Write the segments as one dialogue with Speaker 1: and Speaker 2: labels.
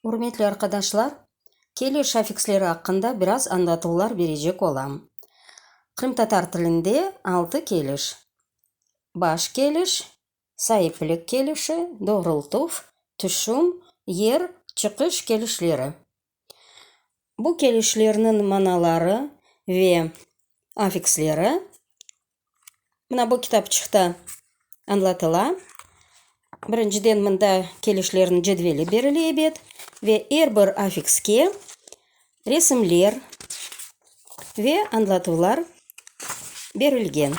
Speaker 1: Ürmetli arqadaşlar, keliş afiksleri aqqında biraz añlatuvlar berecek olam. Qırımtatar tilinde altı keliş, baş keliş, saiplik kelişi, doğrultuv, tüşüm, yer, çıqış kelişleri. Bu kelişlerniñ manaları ve afiksleri Mına bu kitapçıqta añlatıla. Birinciden, mında kelişlerniñ cedveli berile ebet ve er bir affikske resimler ve añlatuvlar berilgen.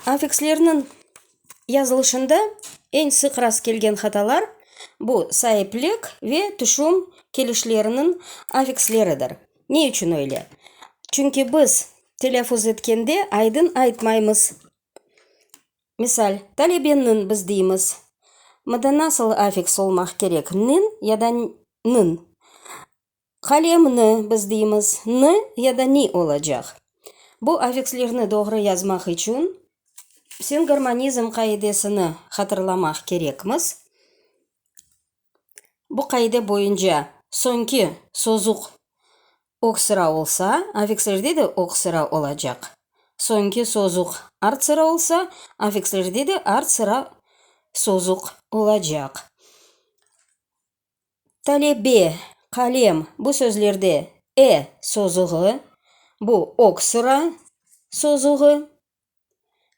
Speaker 1: Affikslerniñ yazılışında eñ sıq rast kelgen hatalar, bu saiplik ve tüşüm kelişleriniñ affiksleridir. Ne içün öyle? Çünki biz telâffuz etkende aydın aytmaymız. Misal, talebeniñ biz deymiz. Mında nasıl afiks olmaq kerek, niñ ya da nıñ? Qalemni biz deymiz, nı ya da ni olacaq. Bu afikslerni doğru yazmaq içün sinhormonizm qaidesini hatırlamaq kerekmiz. Bu qaide boyunca soñki sozuq ög sıra olsa, affikslerde de ög sıra olacaq. Soñki sozuq art sıra olsa, affikslerde de art sıra sozuq olacaq. Talebe, qalem, bu sözlerde e sozuğı, bu ög sıra sozuğı.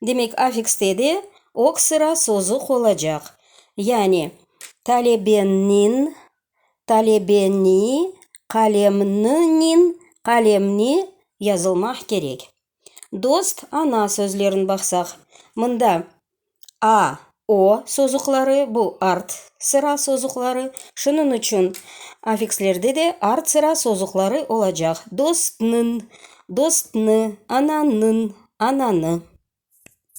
Speaker 1: Demek, affikste de oq sıra sozu qolacaq. Yani, talebenin, talebeni, qalemninin, qalemni yazılmaq kerek. Dost, ana sözlerin baqsaq, mında a, o sozuqları, bu art sıra sozuqları. Şunıñ içün affikslerde de art sıra sozuqları olacaq. Dostnıñ, dostnı, ananıñ, ananı.